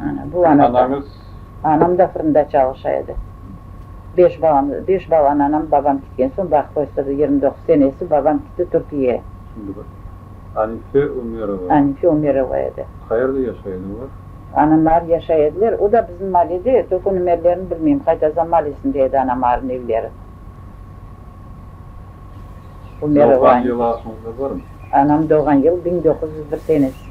Ana, bu ana. Anañız? Anam da fırında çalışa edi. Beş balam, beş balanı anam, babam kitken soñ baqıp östürdi. Yirmi doquz senesi babam kitti Türkiyege. Şimdi bir. Anife Ümerova. Anife Ümerova edi. Qayerde yaşay edi olar? Anam ar yaşay ediler. O da bizim malede edi. Tök onıñ evlerini bilmeyim. Qaytaza malesinde edi anam arıñ evleri. Ümerova Anife. Doğğan yılı aklınızda barmı? Anam doğğan yılı biñ doquz yüz bir senesi.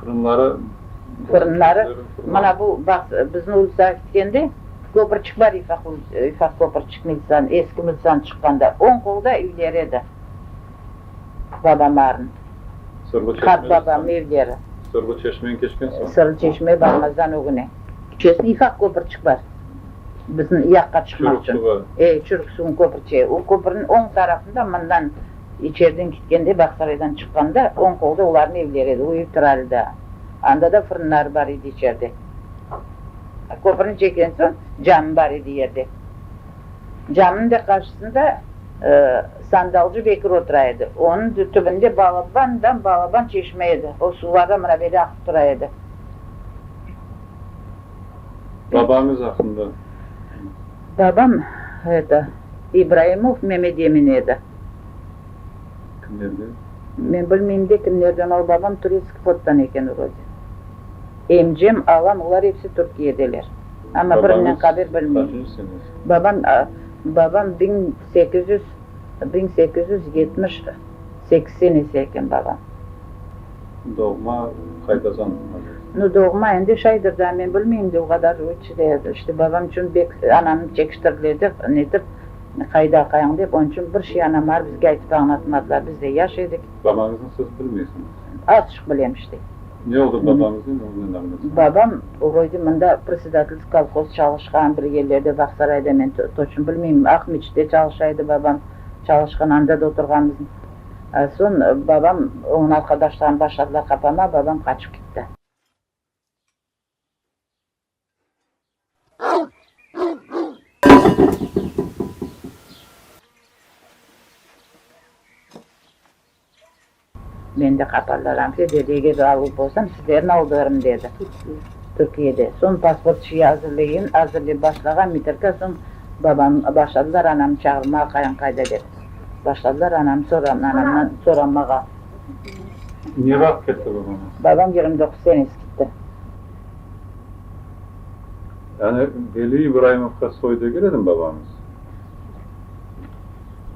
Fırınları? Fırınları, mana bu, baq, bizni ulısqa kitkende, köpürçik bar, yufaq köpürçik Miltsan, eski Miltsan çıqqanda, oñ qolda üyleri edi, babamların, qart babam üyleri. Sırlı çeşmeni keçken soñ? Sırlı çeşmege barmazdan ögüne. Keçesini yufaq köpürçik bar, bizni yaqqa çıqmaqçın. Çürük suvı? E, çürük suvunıñ köpürçi, o köpürniñ oñ tarafında mından. İçeriden kitkende, Bağsaraydan çıqqanda, oñ qolda olarnıñ evleri edi, o ev turardı da. Anda da fırınları bar edi içerde. Köpürni çeken soñ, cami bar edi yerde. Caminiñ de qarşısında sandalcı Bekir otura edi. Onıñ tübünde balaban-dam-balaban çeşme edi. O suvada mına böyle aqıp tura edi. Babañız aqqında? Babam, eto, İbraimov Memedemin edi. Kimlerden? Men bilmeyim de kimlerden ol babam turetskiy flottan eken vrode. Emcem ağam olar epsi Türkiyedeler. Ama birinen qaber bilmeyim. Babam babam biñ sekiz yüz biñ sekiz yüz yetmiş sekiz senesi eken babam. Doğma qaydadan azır? Nu doğma endi şaydır da men bilmeyim de o qadar işte babam içün bek anamnı çekiştiriledi netip. Ne qayda aqayıñ dep, onıñ içün bir şey anam bar, bizge aytıp añlatmadılar, biz de yaş edik. Babañıznıñ sözü bilmeysiñiz endi? Azçıq bilem işte. Ne oldı babañıznen, oña ne mağnası? Babam vroyde mında predsedatelsk kolhoz çalışqan, bir yerlerde, Bağsarayda, men toçno bilmeyim, Aq meçitte çalışa edi babam, çalışqan, anda da oturğanmız. Soñ babam, oñıñ arqadaşları başladılar qapama, babam qaçıp ketti. Men de qapardaram, Federiyege galıp bolsam, sizlerni aldarım, dedi. Türkiyede. Soñ pasport şeyi azırlayın, azırlay başlağan Mitirka, soñ babam, başladılar anamnı çağırmağa, qayın qayda, dep. Başladılar anamnı soram, anamdan soramağa. Ne vaqıt ketti babañız? Babam yigirmi doquz senesi ketti. Yani Veli İbraimovqa soy degil edim babamız.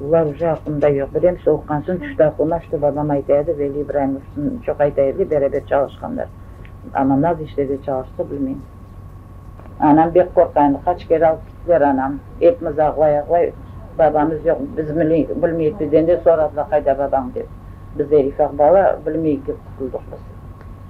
Ulavcı aqqında yoq. Bir em sovuqqan soñ tüşti aqlıma, şte babam ayta edi, Veli İbraimov çoq ayta edi, beraber çalışqanlar. Amma naz işlerde çalışsa, bilmeyim. Anam bek qorqa endi, qaç kere alıp gittiler anam. Epimiz ağlay-ağlay, babamız yoq, biz bilmeyik bizden de soradılar, qayda babañ dep. Biz de ifaq bala, bilmeyik dep qutuldıq biz.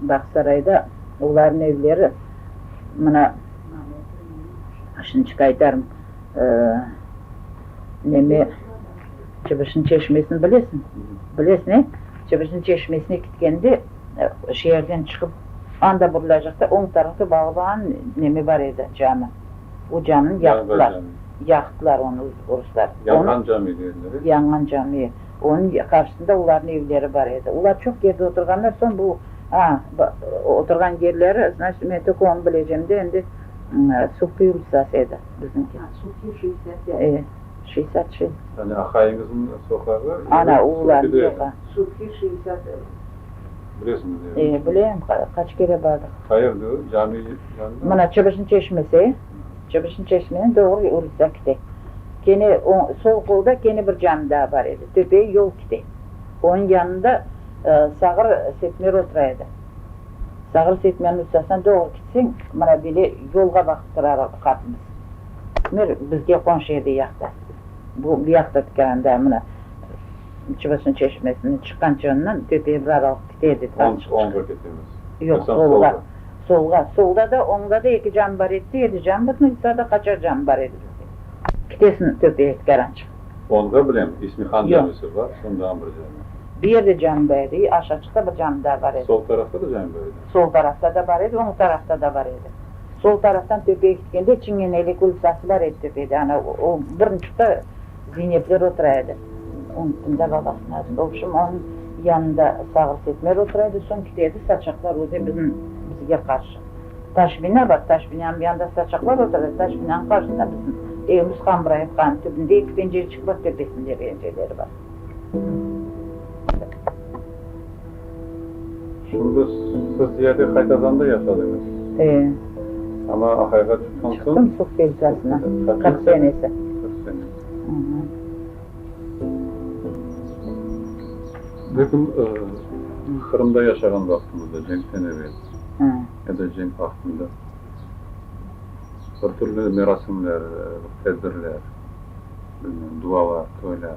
Bağsarayda olarnıñ evleri, mına, şimdiçik aytarım, neme, Çıbışnıñ çeşmesini bilesiñ? Bilesiñ, e? Çıbışnıñ çeşmesine ketkende, şeerden çıqıp, anda burulacaqta, oñ tarafta Bağban neme bar edi, cami. O camini yaqtılar. Yaqtılar onı ruslar. Yanğan cami deyildi. Yanğan cami. Onıñ qarşısında olarnıñ evleri bar edi. Olar çoq yerde oturğanlar, soñ bu, a, oturğan yerleri, znaçit, men tök onı bilecem de, endi Suhti ulitsası edi bizniñki. A, Suhti şeysat bek. E, şeysat şey. Yani aqayıñızıñ soqağı evi Suhtide edi. Suhti şeysat evi. Bilesiñizmi ne evi? E, bilem, qaç kere bardıq. Qayerdi o? Cami yanında mı? Mına, Çıbışnı çeşmesi. Çıqışnı çeşmeniñ doğru ucda kite. Kene oñ, sol qolda kene bir cami daa bar edi. Töpege yol kite. Onıñ yanında sağır Setmer otura edi. Sağır Setmerniñ üstesine doğru kitseñ, mına bile yolğa baqıp turar qapımız. Setmer bizge qonşu edi yaqta. Bu, bu yaqta tikelende, mına, Çıbışnı çeşmesine çıqqan çoñundan töpege bir aralıq kite edi. Oñğa ketemiz. Yoq, solğa. Solğa, solda da, oñda da eki can bar edi, yedi can bar, mı yuqarıda qaçar can bar edi bizde. Kitesini töpeye tikaran çıqtıq. Volga bilem, İsmihan camisi bar, şundan bir cami. Bu yerde cami bar edi, aşağı çıqta bir cami daa bar edi. Sol tarafta da cami bar edi? Sol tarafta da bar edi, oñ tarafta da bar edi. Sol taraftan töpeye kitkende, Çingeneylik ulitsası bar edi töpede, ana o birinçi tta. Zeynepler otura edi. Onı tında babasınıñ adında. Obşim, onıñ yanında Sağır Setmer otura edi, soñ kite edi, saçaqlar öde biziñ, bizge qarşı. Taş bina bar, taş binanıñ yanında saçaqlar otura edi, taş binanıñ qarşısında biziñ evimiz, Hamıraevkanıñ tübünde eki pencereçik bar, töpesinde pencereleri bar. Şimdi siz ziyade Haytazanda yaşadıñız. E. Ama Ahayğa çıqqan soñ. Çıqtım Suk deltasına. Qırq senesi. Qırq senesi. Aha. Lekin Qırımda yaşağan vaqtınızda, cenkten evel ya da cenk vaqtında bir türlü merasimler, tedbirler, bilmem, dualar, toylar.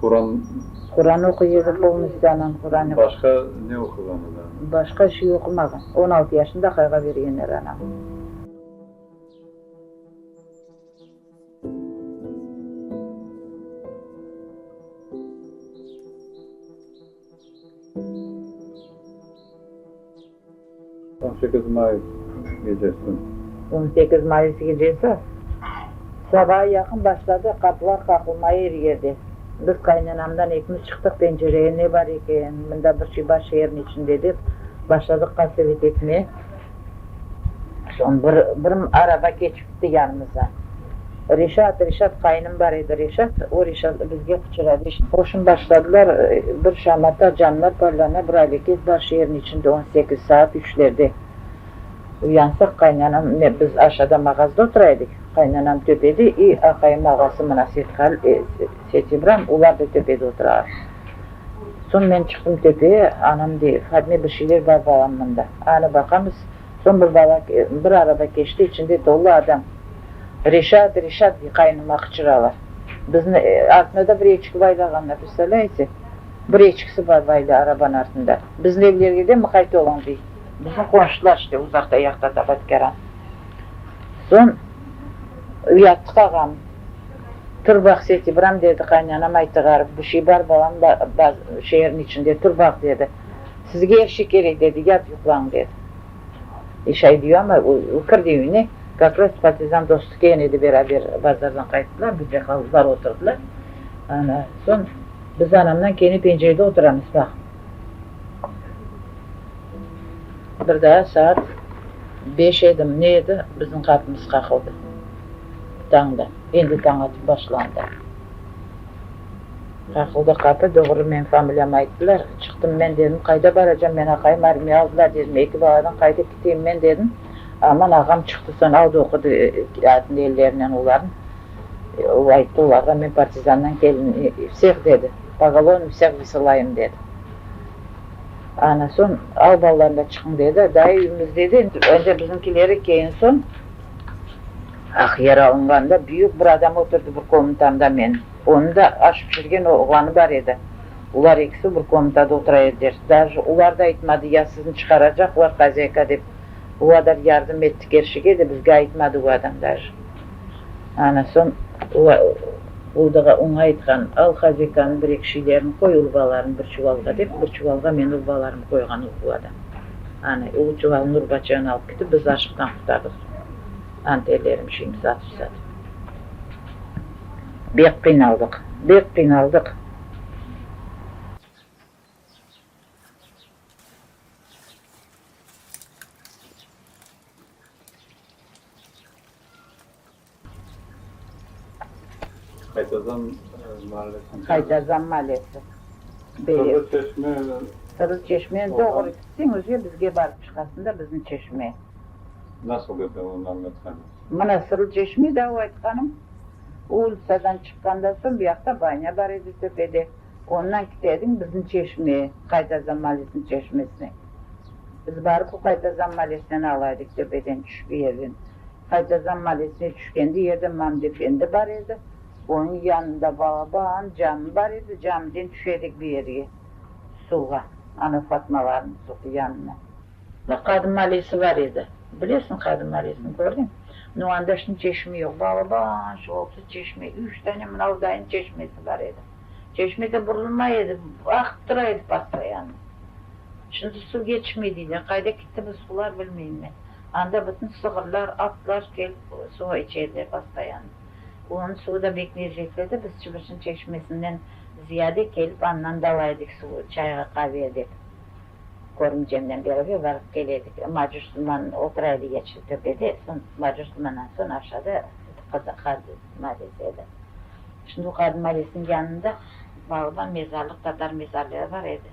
Quran. Quran oquy edi, polnıstü anam Quranı. Başqa ne oquğan edi anam? Başqa bir şey oqumağan. On altı yaşında qayğa bergenler anam. On sekiz may gecesi. On sekiz mayıs gecesi sabağa yaqın başladı, qapılar qaqılmaya er yerde. Biz qaynanamdan ekimiz çıqtıq pencereye, ne bar eken, mında bir şey bar şeerniñ içinde dep, başladıq qasevet etmeye. Soñ bir, bir araba keçipti yanımızdan. Reşat, Reşat, qayınım bar edi, Reşat, o Reşat bizge quçradı. Qoşun başladılar, bir şamata canlar parlana, bir aleket bar şeerniñ içinde, on sekiz, saat üçlerde uyansaq, qaynanam, men, biz aşağıda mağazda otura edik, qaynanam töpede, i aqayım ağası Mınaset Hal, Seti İbram, ular da töpede oturalar. Soñ men çıqtım tepeye, anam dey, Fadme, bir şeyler bar balam mında. Anı baqamız, soñ bir bala bir araba keçti, içinde tolu adam. Reşat, Reşat dey, qaynıma qıçıralar. Bizni artına da bir eçki baylağanlar, prestavlâyetse? Bir eçkisi bar baylı arabanıñ artında. Bizni evlerge de mıqayt oluñ dey. Biziñ qonşular işte, uzaqta yaqta Tabatkeran. Soñ uyattıqağam. Tur baq, Setibiram, dedi qaynanam aytıgarıp, bir şey bar balam, şeerniñ içinde, tur baq, dedi. Sizge er şey kerek, dedi, yat yuqlañ, dedi. E, şay diyu, amma kirdi üyüne, gaflet partizan dostu kelgen edi, beraber bazardan qayttılar, bizde qaldılar, oturdılar. Ana, soñ biz anamnan kene pencerede oturamız, baq. Bir daa saat beş edim, ne edi, biziñ qapımız qaqıldı. Tañda, endi tañ atıp başlandı. Qaqıldı qapı, doğru meñ familiyamı ayttılar. Çıqtım men, dedim, qayda baracam men, aqayım armiya aldılar, dedim, eki baladan qayda keteyim men, dedim. Aman ağam çıqtı, soñ aldı, oqudı atnı ellerinen olarnı. O ayttı olarğa, Men partizandan keldim, vseh dedi, pogalonu vseh vısılayım dedi. Ana soñ, al balalarım da çıqıñ dedi. Dayı üyümüz dedi, endi bizimkileri keyin soñ aq yer alınğanda büyük bir adam oturdı bir komutamda menim. Onıñ da aş pişirgen oğlanı bar edi. Olar ekisi bir komutada otura ediler. Daje olar da aytmadı, ya sizni çıqaracaqlar, xozâyka dep. O qadar yardım etti kerşige de, bizge aytmadı o adam daje. Ana soñ Uldağa oña aytqan, Al hazikanıñ bir eki şeylerini qoy urbalarını bir çuvalğa, dep, bir çuvalğa men urbalarımı qoyğan o quvada. Ana, o çuvalnı urbaçıyan alıp ketip, biz aşıqtan qurtardıq soñ. Ana, terlerim şimdi satıp-satıp. Bek qıynaldıq, bek qıynaldıq. Qaytazan maalesini. Qaytazan maalesi. Sırrı çeşme. Sırrı çeşme. Doğru. Sen öze bizge barıp çıqasın da bizni çeşme. Nasıl edi onı anlatsanız. Mına Sırrı çeşme da o aytqanım. Ulitsadan çıqqandan soñ buyaqta banya bar edi töpede. Ondan kitedim bizni çeşme, Qaytazan malesiniñ çeşmesine. Biz barıp o Qaytazan malesinen alaydık, tepeden tüşüp bir yerden. Qaytazan malesine tüşkende, yerden Mamdi efendi bar edi, onıñ yanında balaban cami bar edi, camiden tüşedik bir yerge, suvğa, ana Fatmalarnıñ suv yanına. Bir qadı malesi bar edi, bilesiñ qadı malesini, kördiñ? No anda şimdi çeşme yoq, balaban şolası çeşme, üç tane mınavdayıñ çeşmesi bar edi. Çeşmege burulmay edi, aqıp tura edi postoyanno. Şimdi suv yetişmey deyler, qayda kitti bu suvlar, bilmeyim men. Anda bütün sığırlar, atlar kelip suv içerler postoyanno. Onıñ suvu da bek lezzetli edi, biz Çıbırçın çeşmesinden ziyade kelip andan da ala edik suv, çayğa, qaveye dep. Körümcemnen beraber barıp kel edik. Macus duman otura edi Yeçil töpede, son Macus dumandan soñ aşağıda edi Qızıl qaz. istisna etedi. Şimdi o qadim Maresniñ yanında bağda mezarlıq, tatar mezarlığı bar edi.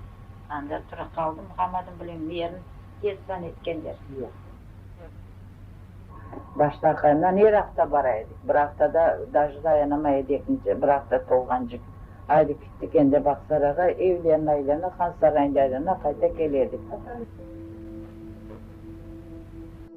Anda tura qaldı Muhammadın bilen Merin destan etkenler. Yoq. Baştaqınan er afta bara edik. Bir aftada daje dayanamay edik, nice bir afta tolğancıq. Aydı kittik endi Bağsarayğa, evlerini aylana, Han sarayında aylana, qayta kele edik.